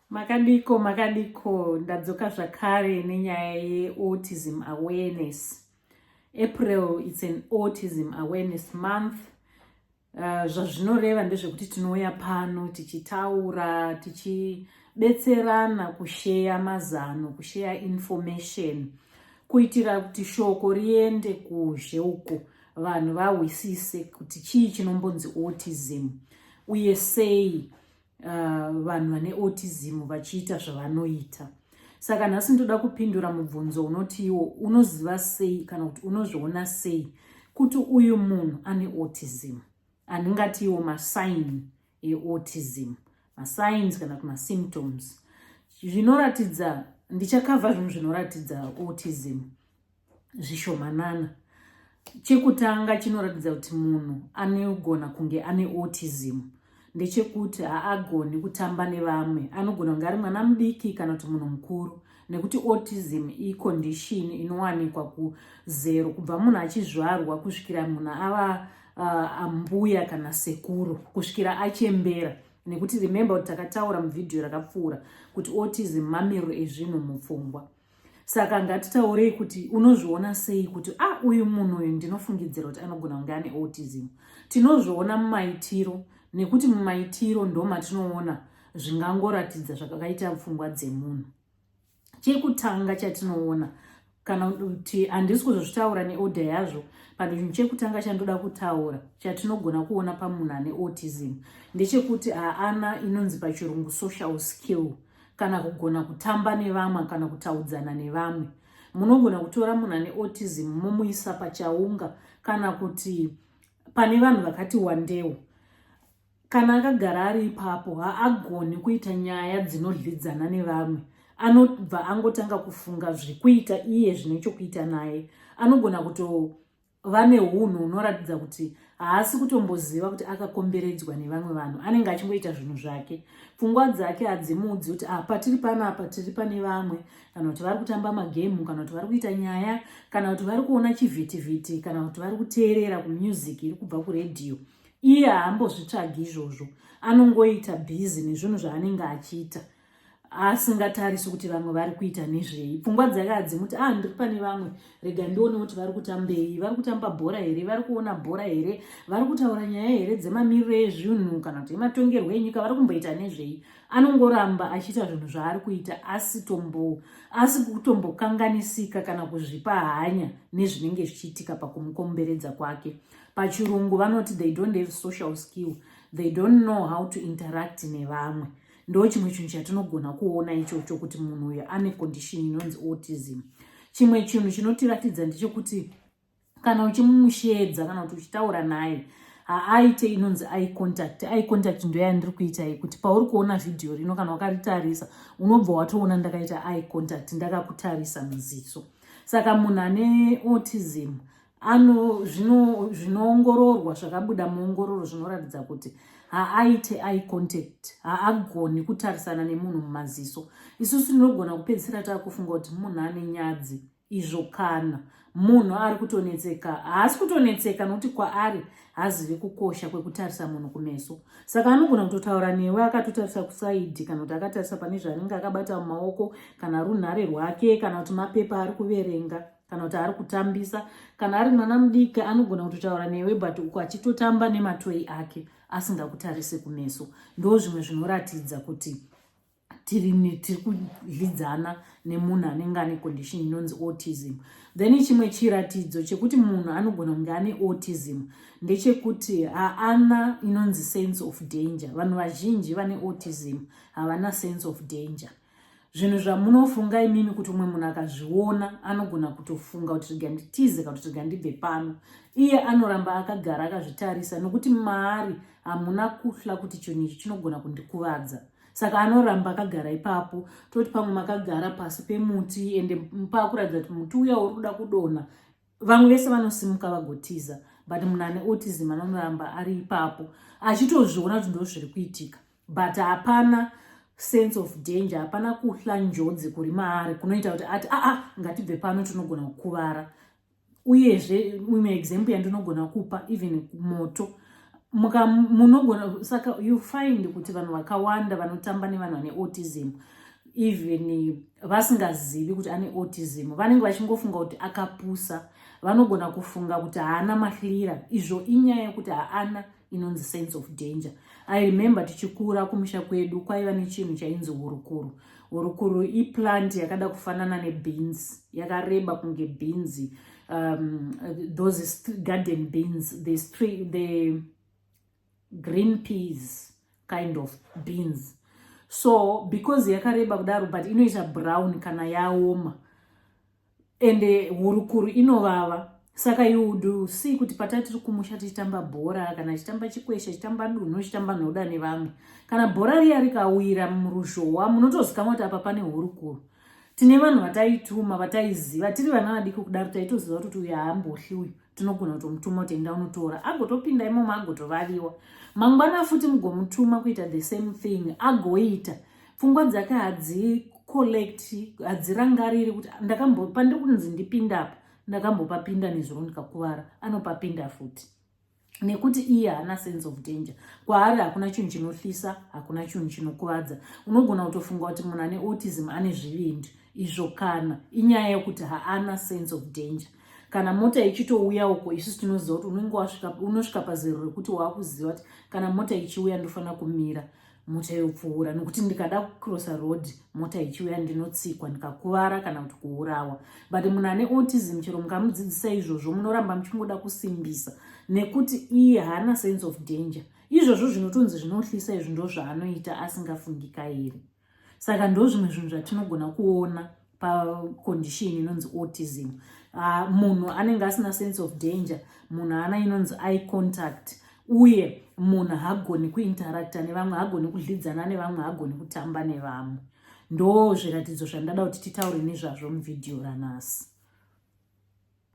Makadiko, makadiko, ndadzoka zvakare nenyaya yeautism awareness. April it's an autism awareness month. Uh, zvazvinoreva ndezvekuti tinouya pano tichitaura tichibetserana kusheya mazano kusheya information kuitira kuti shoko riende kuzhe uko vanhu vahwisise kuti chii chinombonzi autism uye sei uh, vanhu vane autism vachiita zvavanoita saka nhasi ndoda kupindura mubvunzo unoti iwo unoziva sei kana kuti unozviona sei kuti uyu munhu ane autism andingati iwo masign eautism masigns kana kuti masymptoms zvinoratidza ndichakavha zvinhu zvinoratidza autism zvishomanana. Chekutanga chinoratidza kuti munhu anogona kunge ane autism ndechekuti haagoni kutamba nevamwe. Anogona kunge ari mwana mudiki kana kuti munhu mukuru nekuti autism icondition inowanikwa kuzero kubva munhu achizvarwa kusvikira munhu ava uh, ambuya kana sekuru kusvikira achembera nekuti remember kuti takataura muvhidhiyo rakapfuura kuti autism mamiriro ezvinhu mupfungwa saka ngatitaurei kuti unozviona sei kuti a ah, uyu munhu uyu ndinofungidzira kuti anogona kunge ane autism tinozviona mumaitiro nekuti mumaitiro ndo matinoona zvingangoratidza zvakakaita pfungwa dzemunhu chekutanga chatinoona kana kuti handisi kuzozvitaura neoda yazvo but chinhu chekutanga chandoda kutaura chatinogona kuona pamunhu ane autism ndechekuti haana inonzi pachirungu social skill kana kugona kutamba nevamwe kana kutaudzana nevamwe munogona kutora munhu ane autism momuisa pachaunga kana kuti pane vanhu vakati wandewo kana akagara ari ipapo haagoni kuita nyaya dzinodlidzana nevamwe anobva angotanga kufunga zvekuita iye zvine chokuita naye anogona kuto vane unhu hunoratidza kuti haasi kutomboziva kuti akakomberedzwa nevamwe vanhu anenge achingoita zvinhu zvake pfungwa dzake hadzimudzi kuti ah, patiri panapa tiri pane vamwe kana kuti vari kutamba magemu kana kuti vari kuita nyaya kana kuti vari kuona chivhitivhiti kana kuti vari kuteerera kumusic iri kubva kuredhiyo iye haambozvitsvagi izvozvo anongoita bhizi nezvinhu zvaanenge achiita asingatarisi kuti vamwe vari kuita nezvei pfungwa dzake hadzimuti ah ndiri pane vamwe rega ndione kuti vari kutambei vari kutamba bhora here vari kuona bhora here vari kutaura nyaya here dzemamiriro ezvinhu kana kuti ematongerwo enyika vari kumboita nezvei anongoramba achiita zvinhu zvaari kuita asitombo asi kutombokanganisika kana kuzvipa hanya nezvinenge zvichiitika pakumukomberedza kwake pachirungu vanoti they don't have social skill they don't know how to interact nevamwe ndo chimwe chinhu chatinogona kuona ichocho kuti munhu uyo ane condition inonzi autism chimwe chinhu chinotiratidza ndechekuti kana uchimushedza kana kuti uchitaura naye haaite inonzi i contact i contact ndoyandiri kuita iyi kuti pauri kuona vhidhiyo rino kana wakaritarisa unobva watoona ndakaita i contact ndakakutarisa muziso saka munhu ane autism ano zvinoongororwa zvakabuda muongororo zvinoratidza kuti haaite eye contact haagoni kutarisana nemunhu mumaziso isusu tinogona kupedzisira taakufunga kuti munhu ane nyadzi izvo kana munhu ari kutonetseka haasi kutonetseka nokuti kwaari haazive kukosha kwekutarisa munhu kumeso saka anogona kutotaura newe akatotarisa kusaidhi kana kuti akatarisa pane zvaanenge akabata mumaoko kana runhare rwake kana kuti mapepa ari kuverenga kana kuti ari kutambisa kana ari mwana mudiki anogona kutotaura newe but uku achitotamba nematoi ake asingakutarise kumeso ndo zvimwe zvinoratidza kuti tiri tiri kudyidzana nemunhu anenge ane condition inonzi autism then chimwe chiratidzo chekuti munhu anogona kunge ane autism ndechekuti haana inonzi sense of danger vanhu vazhinji vane autism havana sense of danger zvinhu zvamunofunga imimi kuti umwe munhu akazviona anogona kutofunga kuti rega nditize kana kuti rega ndibve pano iye anoramba akagara akazvitarisa nokuti maari hamuna kuhla kuti chinhu ichi chinogona kundikuvadza saka anoramba akagara ipapo toti pamwe makagara pasi pemuti ende paakuratidza kuti muti uya uri kuda kudonha vamwe vese vanosimuka vagotiza but munhu ane autism anonoramba ari ipapo achitozviona kuti ndo zviri kuitika but hapana sense of danger hapana kuhla njodzi kuri maari kunoita kuti ati aa ngatibve pano tinogona kukuvara uyezve imwe example yandinogona kupa even moto muka munogona saka you find kuti vanhu vakawanda vanotamba nevanhu vane autism even vasingazivi kuti ane autism vanenge vachingofunga kuti akapusa vanogona kufunga kuti haana mahlira izvo inyaya yekuti haana inonzi sense of danger i remember tichikura kumusha kwedu kwaiva nechinhu chainzi hurukuru hurukuru iplant yakada kufanana nebeans yakareba kunge beans um, those garden beans the, the green peas kind of beans so because yakareba kudaro but inoita brown kana yaoma ende hurukuru inovava saka you would see kuti patai tiri kumusha tichitamba bhora kana chitamba chikwesha chitamba dunhu chitamba nhoda nevamwe kana bhora riya rikawira muruzhowa munotozikamwa kuti apa pane hurukuru tine vanhu vataituma vataiziva tiri vana vadiki kudaro taitoziva kuti uyu haambohli uyu tinogona kutomutuma kuti enda unotora agotopinda imomo agotovaviwa mangwana futi mugomutuma kuita the same thing agoita pfungwa dzake hadzicollect hadzirangariri kuti ndakambo pandiri kunzi ndipinda apa ndakambopapinda nezuro ndikakuvara anopapinda futi nekuti iye haana sense of danger kwaari hakuna chinhu chinohlisa hakuna chinhu chinokuvadza unogona kutofunga kuti munhu ane autism ane zvivindi izvo kana inyaya yekuti haana sense of danger kana mota ichitouya uko isusu tinoziva kuti unenge wasvika unosvika pazero rekuti waakuziva kuti kana mota ichiuya ndofanira kumira mota yopfuura nokuti ndikada kucrossa road mota ichiuya ndinotsikwa ndikakuvara kana kuti kuurawa but munhu ane autism chero mukamudzidzisa izvozvo munoramba muchingoda kusimbisa nekuti iye haana sense of danger izvozvo zvinotonzi zvinohlisa izvi ndozvaanoita asingafungikairi saka ndozvimwe zvinhu zvatinogona kuona pacondition inonzi autism uh, munhu anenge asina sense of danger munhu ana inonzi eye contact uye munhu hagoni kuinteracta nevamwe hagoni kudlidzana nevamwe hagoni kutamba nevamwe ndo zviratidzo zvandada kuti titaure nezvazvo muvhidhiyo ranhasi